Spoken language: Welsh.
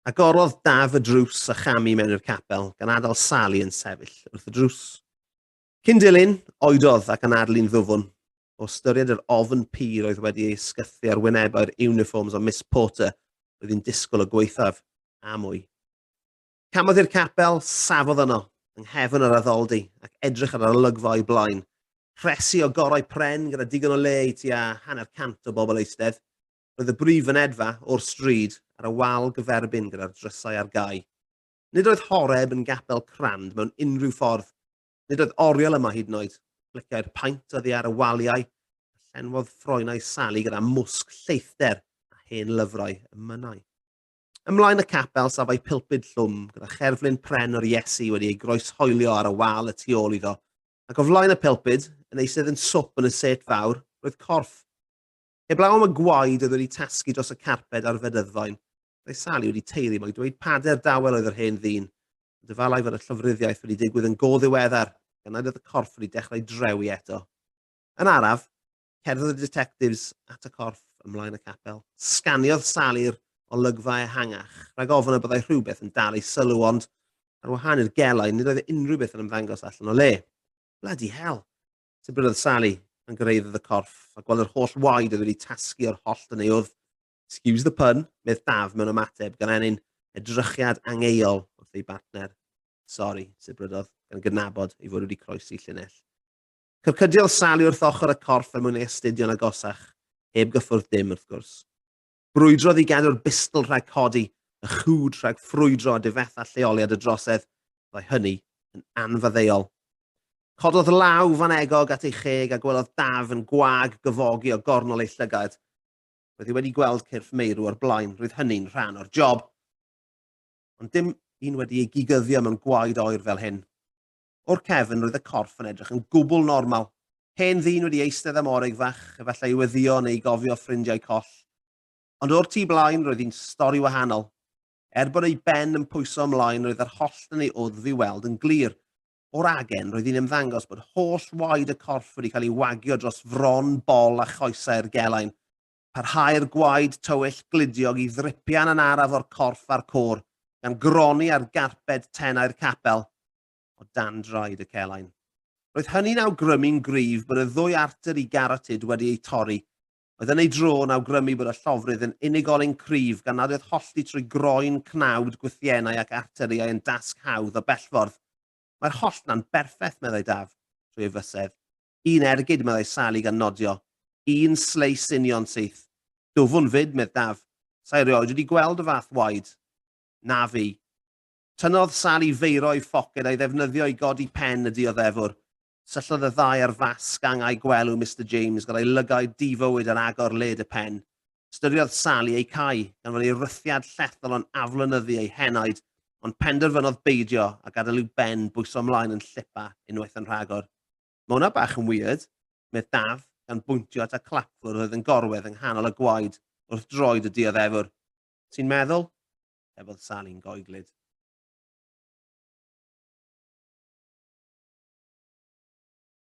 Agorodd Daf y drws a cham i mewn i'r capel, gan adael Sali yn sefyll wrth y drws. Cyn dilyn, oedodd ac anadlu'n ddwfwn, o ystyried yr ofn pur oedd wedi ei ysgythu ar wynebau'r uniforms o Miss Porter oedd hi'n disgwyl o gwaethaf, a mwy. Camodd i'r capel, safodd yno, yng nghefn yr addoldy, ac edrych ar yr olygfa o'i blaen. Rhesi o gorau pren gyda digon o le i tua hanner cant o bobl eistedd. Roedd y brif fynedfa o'r stryd ar y wal gyferbyn gyda'r drysau ar gau. Nid oedd Horeb yn gapel crand mewn unrhyw ffordd. Nid oedd oriel yma hyd yn oed. Plicai'r paent oddi ar y waliau, a llenwodd ffroenau Sally gyda mwsg lleithder a hen lyfrau y mynnau. Ymlaen y capel safai pilpid llwm gyda cherflun pren o'r Iesu wedi ei groeshoelio ar y wal y tu ôl iddo, ac o flaen y pilpid, yn eisydd yn swp yn y set fawr, roedd corff. Heblaw am y gwaed oedd wedi tasgu dros y carped a'r fedyddoen, roedd Sali wedi teiri mai dweud pader dawel oedd yr hen ddyn, ond efallai fod y llofruddiaeth wedi digwydd yn go ddiweddar, gan nad oedd y corff wedi dechrau drewi eto. Yn araf, cerddodd y ditectifs at y corff ym mlaen y capel. Sganiodd Sali'r olygfa ehangach, rhag ofn y byddai rhywbeth yn dal ei sylw, ond, ar wahân i'r gelai, nid oedd unrhyw beth yn ymddangos allan o le. Bloody hell! Sut bynnag odd Sali pan gyrhaeddodd y corff a gweld yr holl waed oedd wedi tasgu o'r hollt yn ei wddf, excuse the pun, medd Daf mewn ymateb gan ennyn edrychiad angeuol wrth ei bartner. Sori, sibrydodd, gan gydnabod ei fod wedi croesi llinell. Cyrcydiodd Sali wrth ochr y corff er mwyn ei astudio'n agosach, heb gyffwrdd dim, wrth gwrs. Brwydrodd i gadw'r bistl rhag codi, y chwd rhag ffrwydro a difetha lleoliad y drosedd, fyddai hynny yn anfaddeuol. Cododd law fan egog at ei cheg a gwelodd Daf yn gwag gyfogi o gornol ei llygad. Roedd hi wedi gweld cyrff meirw o'r blaen, roedd hynny'n rhan o'r job. Ond dim un wedi ei gigyddio mewn gwaed oer fel hyn. O'r cefn, roedd y corff yn edrych yn gwbl normal. Hen ddyn wedi eistedd am oreg fach, efallai i weddïo neu i gofio ffrindiau coll. Ond o'r tu blaen, roedd hi'n stori wahanol. Er bod ei ben yn pwyso ymlaen, roedd yr hollt yn ei wddf i'w weld yn glir. O'r agen, roedd hi'n ymddangos bod holl waed y corff wedi cael ei wagio dros fron, bol a choesau'r gelain. Parhau'r gwaed tywyll gludiog i ddripian yn araf o'r corff a'r côr, gan gronni ar garped tenau'r capel, o dan draed y celain. Roedd hynny'n awgrymu'n gryf bod y ddwy arter i garotid wedi eu torri, oedd yn ei dro yn awgrymu bod y llofrudd yn unigolyn cryf gan nad oedd hollti trwy groen, cnawd, gwthiennau ac arteriau yn dasg hawdd o bellffordd. Mae'r holltna'n berffeth, meddai Daf, trwy ei fysedd. Un ergyd, meddai Sali gan nodio. Un sleis union syth. Dwfwn 'fyd, medd Daf. Sa' i rioed wedi gweld y fath waed. Na fi. Tynnodd Sali feiro i phoced a'i ddefnyddio i godi pen y dioddefwr. Syllodd y ddau ar fasg angau gwelw Mister James, gyda'i lygaid di-fywyd ar agor led y pen. Ystyriodd Sally eu cau, gan fod ei rythiad llethol yn aflonyddu ei henaid, ond penderfynodd beidio a gadael i'w ben bwyso ymlaen yn llipa unwaith yn rhagor. Mae hwnna bach yn weird, medd Daf, gan bwyntio at y clapfwrdd oedd yn gorwedd yng nghanol y gwaed wrth droed y dioddefwr. Ti'n meddwl? tebodd Sally'n goeglyd.